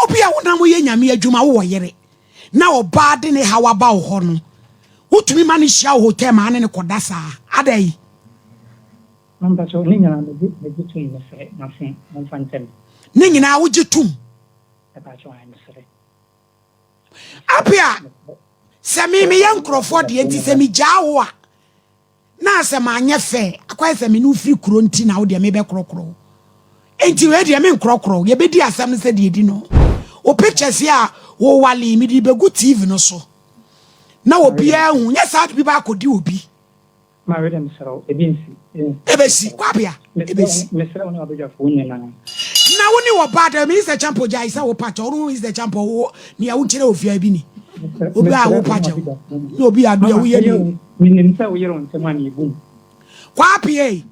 Obia wonam yɛ nyame adwuma wowɔ yere na ɔbaa de ne haw aba wo hɔ no wotumi ma no hyia wo hotel maa ne ne kɔda saa adai. Mpakyɛw ne nyinaa megye megye tum mesrɛ mase momfa nkyɛ me. Ne nyinaa wogye tum. Mepakyɛw ae mesrɛ. Apia sɛ me meyɛ nkorɔfoɔ deɛ nti sɛ megyaa wo a Na sɛ manyɛ fɛ, akɔyɛ sɛ me ne wo firi kuro nti na wo deɛ mebɛkorɔkorɔ wo. Enti wei deɛ menkorɔkorɔ wo, yɛbɛdi asɛm no sɛdeɛ ɛdi no. Wo pictures yi a wowalee mede bɛgu TV no so na obiara ahu, nyɛ saa de bi ba akɔdi obi. Mareda mesrɛ wo, ebi nsi. Ɛbɛsi, Kwabea, ɛbɛsi. Mesrɛ wo ne w'abadwafoɔ nyinaa. Na wo ne wɔ bad, ɛmi is the champo gyae sɛ wo pakyɛ, ɔno is the champo, wo nea wo nkyerɛ ofiaa bi ni. Obi a wo pakyɛ wo, na obi a deɛ woyɛ ni. Menim sɛ woyere wo nsɛm a meyɛ bu mu. Kwaape ei,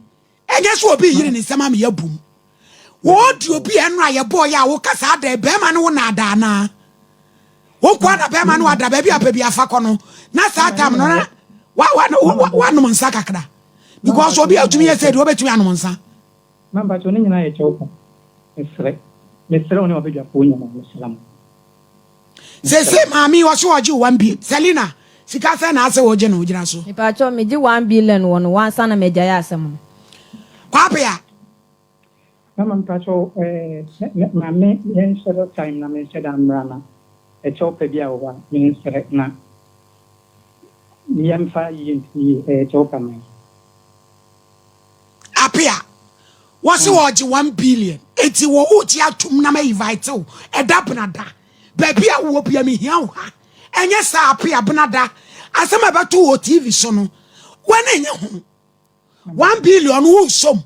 ɛnyɛ sɛ obi yere ne nsɛm a meyɛ bu mu. Wode obi a ɛno a yɛbɔɔ yɛ a woka saa dɛn, bɛrima ne wo naadaa anaa? Wo nkoa na bɛrima no ada baabi a pɛ bi afa kɔ no, na saa tam no na wanom nsa kakra. Because obi a otumi yɛ sɛ deɛ obetumi anom nsa. Mampakyɛw ne nyinaa yɛ kyɛw ko. Mesrɛ, mesrɛ wo ne w'abadwafoɔ nyinaa, mesrɛ mo. Sese maame yi ɔse ɔgye one bill. Selina, sika sɛn na ase wo gye no gyina so. Mepakyɛw me gye one billion wɔ no hɔ ansa na magyae asɛm no. Kwaape a. Mama mepakyɛw eh maame yɛ nhyɛ da time na me nhyɛ da mmra na ɛkyɛw pɛ bi a wɔ hɔ a me nsrɛ na yɛ mfa yie ntie ɛyɛ kyɛw kama. apea wɔsi wɔ ɔgye one billion eti wɔ o ti atum na ma invite o ɛda benada baabi a wɔ bia mi hia o ha ɛnyɛ saa apea benada asɛm a ɛbɛto wɔ tv so no wɔn enye ho one billion wo som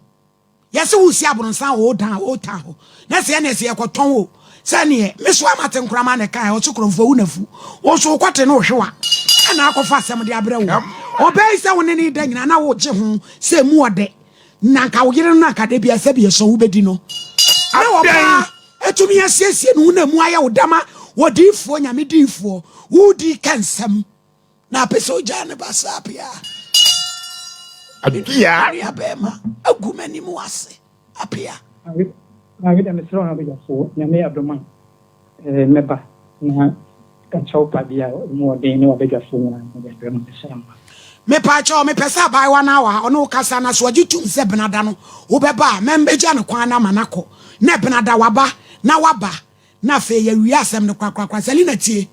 yɛsi wo si abonsan o dan o ta ho na sɛ ɛne sɛ yɛkɔtɔn o sɛ neɛ me so amate nkorama ne kan ɔse korɔmfoɔ wo nafu wo so wokɔte no ohwewa ɛna akɔfa asɛm de abrɛ wo ɔbɛɛ yi sɛ wo ne ne da nyina na wogye ho sɛ mu ɔdɛ na nka wo yere no na nka da bia sɛ biɛsɔ wobɛdi no na wɔbaa ɛtumi asiesie no wo na mu ayɛ wo dama wɔdiifoɔ nyame diifoɔ wodi ka nsɛm Na apɛ sɛ ogyaa ne ba saa pea a. Apea. Nua bɛrima agu m'anim ase apea. Maame da mesrɛ ɔha bɛgyafoɔ nyame adom a mɛba na ka kyɛw pa bi a ɔmu ɔden ne wabɛgyafoɔ nyinaa na ɔde abrɛ mu pɛ sɛ mma. Mepa kyɛw mepɛ sɛ abaayewa no a ɔne wo kasa na so ɔgye tum sɛ benada no wobɛba a mɛmbɛgya no kwan na ama no akɔ na benada waba na waba Na afei yɛawie asɛm no korakorakora. Selina, tie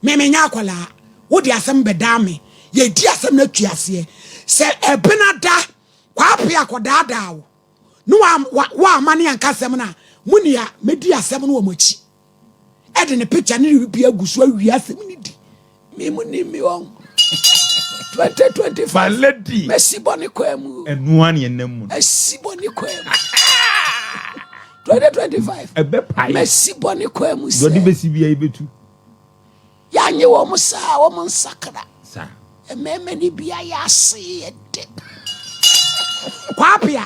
me, menyɛ akwadaa. Wode asɛm bɛdaa me. Yɛadi asɛm no atwi aseɛ. Sɛ ɛbenada Kwaape akɔdaadaa wo ne woamma ne anka asɛm no a, mo nea mɛdi asɛm no wɔ mo akyi de ne picture ne ne biribiara agu so awie asɛm no di. Me mu ni mi wɔn. Twenty twenty five. My lady. Mesi bɔ ne kwan mu. Ɛnua ni ɛnam mu. Mesi bɔ ne kwan mu. Twenty twenty five. Ɛbɛ pa yi. Mesi bɔ ne kwan mu sɛ. Dɔdi besi bi ayi betu. Yanyi wɔn saa wɔn nsakra. Saa. Mmɛɛmɛ ni bi ayɛ ase yɛ de. Kwapia.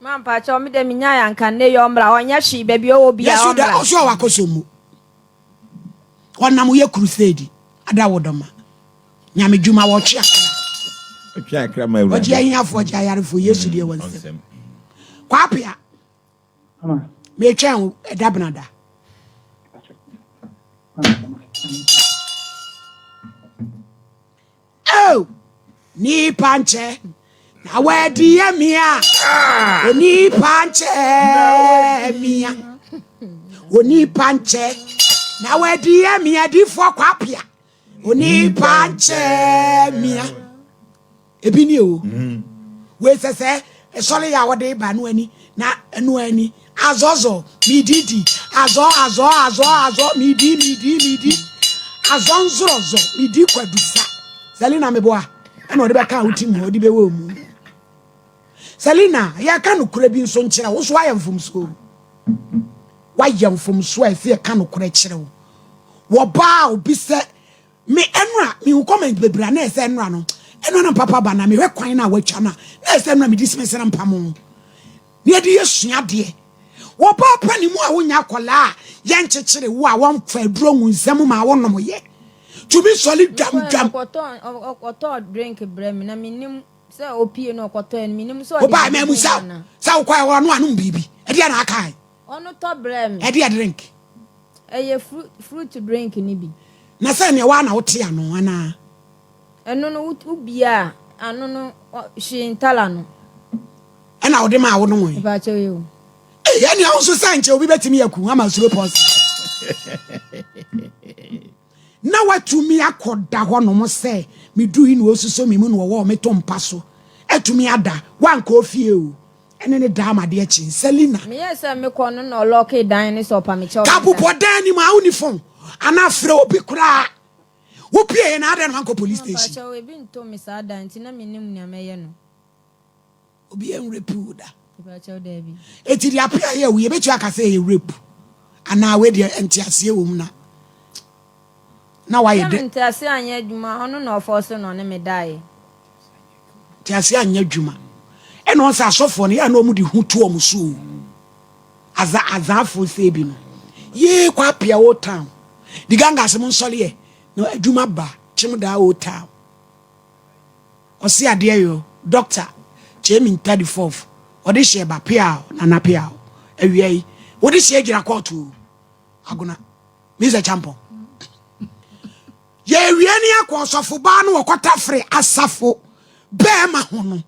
Ma mpakyɛw me dɛ minyae anka nnɛ yi ɔmmra ɔnyɛ hwee baabi ɔwɔ bia ɔmmra. Yesu dɛ ɔsɔ ɔwɔ akɔsɔ mu ɔnam woyɛ crusade ada wo dɔ ma nyame dwuma wɔtwe akra ɔtwe akra ma awurade ɔgye ahiafo ɔgye ayarefo Yesu deɛ wɔ nsɛm kwapea metwɛn wo ɛda benada. Oh, nipa nkyɛ na wadi yɛ mia. Ah. Onipa nkyɛ mia. Onipa nkyɛ na wadi yɛ mia difoɔ kwapia. Onipa nkyɛ mia. Ebi ni o. Mm. Wei sɛ sɛ ɛsɔre yɛ a wɔde ba no ani na ɛno ani Azɔɔ zɔɔ, midi di. Azɔɔ azɔɔ azɔɔ azɔɔ, midi midi midi. Azɔɔ nzorɔ zɔ, midi kwadu sa. Selina meboa ɛna ɔde bɛka wo tim hɔ de bɛwɔ mu. Selina yɛka nokorɛ bi nso nkyerɛ wo so ayɛ mfomsoɔ. Wayɛ mfomsoɔ a ɛsɛ yɛka nokorɛ kyerɛ wo. Wɔbaa obi sɛ Me nwura, mehu comment bebree a na ɛyɛ sɛ nwura no, ɛno na papa ba na mehwɛ kwan no a wɔatwa no a, na ɛyɛ sɛ nwura medi sime sɛ na mpamo. Na yɛde yɛ sua adeɛ. Wɔbaa pa ne mu a wonya akwadaa a yɛnkyekyere wo a wɔmfa aduro ngu nsa mu ma wonom yɛ. Tumi sɔre dwamdwam. Ɔkɔtɔɔ drink brɛ me na menim sɛ opie no ɔkɔtɔɛ no menim sɛ ɔde. Wobaa mɛ mu sɛ sɛ wokɔɛ hɔ no anom biribi. Ɛdeɛ na akae. Ɔno tɔ brɛ me. Ɛdeɛ drink. Ɛyɛ fruit drink no bi. Na sɛ neɛ waa na wote ano anaa. Ɛno no wo bia a ano no hwee ntala no. Ɛna wode maa wo nom. Ɛbaakyɛ yɛ o. Ɛyɛ nea wo nso sɛ nkyɛ obi bɛtumi aku ama suro pɔsi. Na watumi akɔda hɔnom sɛ medui na ɔsuso me mu na ɔwɔ me to mpa so. Atumi ada. Wankɔ ofie o. Ɛne ne daa ma adeɛ kye. Selina. Meyɛɛ sɛ mekɔ no na ɔlɔɔkee dan no sɛ ɔpa me kyɛw. Ka bobɔ dan no mu a wonni fon anaa frɛ obi koraa. Wopueeɛ no adɛn na wankɔ police station? Mpakyɛw ebi nto me saa da nti na mennim nea mɛyɛ no. Obi yɛ nrepu da. Eti deɛ apɛ ayɛ wo yɛbɛtua aka sɛ ɛyɛ rape anaa wei deɛ nteaseɛ wɔ mu na na wayɛ dɛ. Sɛ nteaseɛ anyɛ adwuma ɔno na ɔfɔ so na ɔne me daeɛ. Nteaseɛ anyɛ adwuma ɛna ɔn sɛ asɔfoɔ no yɛ a na wɔn de ho to wɔn so o aza azaafo sɛ bi no yee kɔ apia o town di gangas mo nsɔleɛ na adwuma ba kyem daa o town. Ɔse adeɛ yɔ doctor kyɛɛ me ntade fɔf ɔde hyɛɛ ba peaw nana peaw awia yi wode hyɛɛ gyina kɔɔto o agona means akyampɔn yɛ awia ni akɔ ɔsɔfo baa no ɔkɔta fere asafo bɛɛma ho no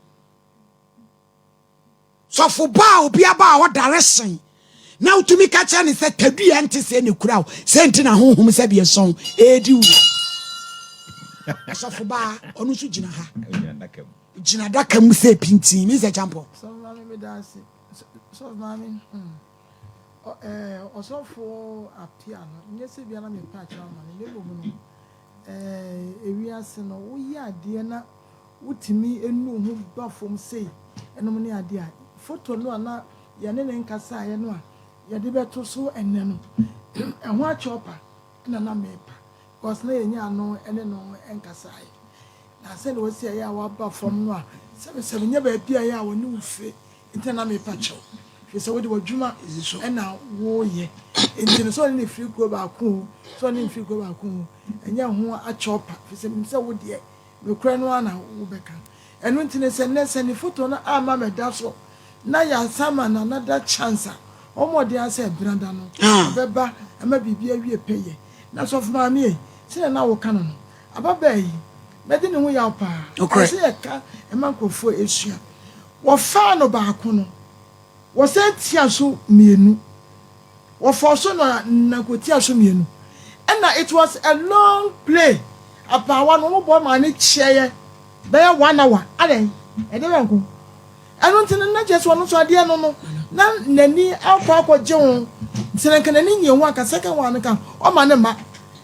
sɔfo ba a obi aba a ɔdare sen na wotumi ka kyerɛ ne sɛ tadua nte sɛ ne kura o sɛ nti na honhom sɛ deɛ sɔn ɛredi wo sɔfo ba ɔno nso gyina ha gyina daka mu sɛ pintin me sɛ kyampɔ Ɔsɔfoɔ Appiah no, nyɛ sɛ ebia na mepɛ akyerɛ ama no, na mmom no, ewiase no, woyɛ adeɛ na wotumi nu wo ho ba fam sei, ɛnom ne adeɛ a, foto no a na yɛne ne nkasaeɛ no a yɛde bɛto so ɛnnɛ no, ɛho akyɔpa na na mepa, because na yɛnyɛ ano ne no nkasaeɛ. Na sɛdeɛ ɔsi a ɛyɛ a waba fam no a, sɛ mesɛ menyɛ baabi a ɛyɛ a wɔne wo firi Ntɛ na mepa kyɛw, hwɛ sɛ wode w'adwuma na woreyɛ. Enti no, sɛ ɔne no firi kuro baako oo, sɛ ɔne no mfiri kuro baako oo, ɛnyɛ ho akyɛw pa, ɛfiri sɛ menim sɛ wo deɛ, nokorɛ no ara na wobɛka. Ɛno nti no, sɛ nnɛ, sɛ ne foto no amma mɛda so, na yɛasan ama Nana Da chance a, ɔmmɔ mmɔden ara sɛ Bena Da no, ɔbɛba ama biribi awie pɛyɛ. Na Sɔfo Maame ei, sɛdeɛ na woka no no, ababaa yi, n'adwene ho yaw pa ara. Ɛyɛ sɛ yɛka ma nkorɔfoɔ sua. Wɔfaa no baako no, wɔsan tiaa so mmienu, wɔfɔɔ so na na kɔtiaa so mmienu. Ɛna it was a long play, abaawa no wɔbɔ maa no kyeɛɛ bɛyɛ one hour, adɛn, ɛdeɛ yɔnko. Ɛno nti no na kyerɛ sɛ ɔno nso adeɛ no no na n'ani akɔ akɔgye ho, nti no nka n'ani nnye ho anka second one no nka ɔmma no mma,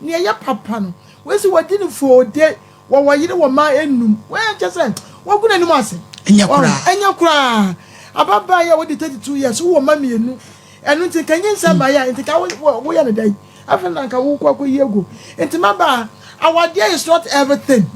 Nea ɛyɛ papa no, wei se wadi no foode, wɔwɔ yere, wɔ mma nnum. Wei nkyɛ sɛ wagu n'anim ase. Ɛnyɛ koraa. Ɛnyɛ koraa. Ababaa yi a wadi thirty two years, wowɔ mma mmienu. Ɛno nti nka nyinsɛn baeɛ a, nti nka woyɛ no dɛn? Afei na nka wokɔ akɔyi agu. Nti mmabaa, awadeɛ is not everything.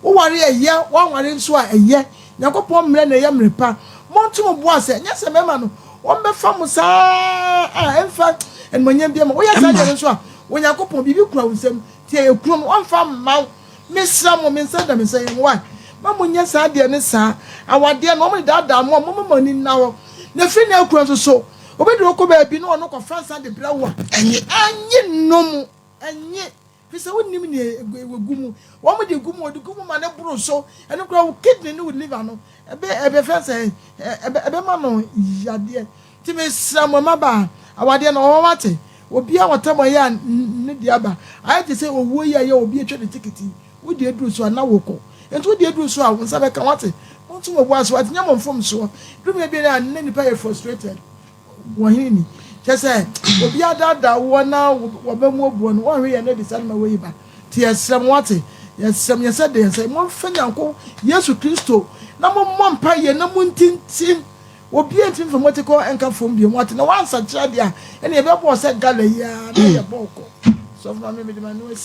Woware a, ɛyɛ, woanware nso a, ɛyɛ. Nyankopɔn mmrɛ na ɛyɛ mmrɛ pa. Monto mo bo ase, ɛnyɛ sɛ mɛma no, wɔbɛfa mo saa a, ɛmfa animuonyam biara mma. Woyɛ saa deɛ no nso a, Onyankopɔn, biribi kura wo nsam, nti ɛyɛ kuro no, ɔmfa mma wo. Mesrɛ mo, me nsa da me nsa, Yehowa, mma monnyɛ saa deɛ no saa. Awadeɛ no, wɔn de daadaa mo a, momma mo ani nna hɔ. Na firi nnɛ rekɔ nso so, obi de wo kɔ baabi na ɔno kɔfa nsa de brɛ wo a, ɛnye, ɛnye nnom, ɛnye. Fi sɛ wonnim nea wɔgu mu. Wɔde egu mu, wɔde gu mu ma no boro so. Ɛno koraa wo kidney ne wo liver no, ɛbɛ ɛbɛfɛ sɛ ɛbɛ ɛbɛma no yadeɛ. Nti mesrɛ mo mmabaa, awadeɛ no ɔwɔ hɔ ate. Obiara a ɔtɛm ɔyɛ a ne deɛ aba. Ayɛ te sɛ owuo yi a ɛyɛ a obi atwa ne ticket yi. Wo deɛ duru so a na wokɔ. Nti wo deɛ duru so a wo nsa bɛka wate. Monto mo bo ase wate. Nyɛ mo mfomsoɔ. Duru baabi a na nnipa yɛ frustrated. Wɔ he ni? Kyerɛ sɛ, obi adaadaa woɔ na wɔba mu obuo no, wɔnhwe yɛn adi saa nnoɔma wei ba. Nti yɛsrɛ mo, wate, yɛsrɛ mo, yɛsɛ dɛ, yɛsɛ, momfa Nyanko, Yesu Kristo, na mommɔ mpaeɛ na montintim, obiara ntumi mfa mo atikɔ nka fam bio, moate, na wɔansakyera deɛ a, ɛne yɛbɛbɔɔ sɛ gala yi ara na yɛbɔɔ kɔ. Sɔfo ma me mede m'ano asi.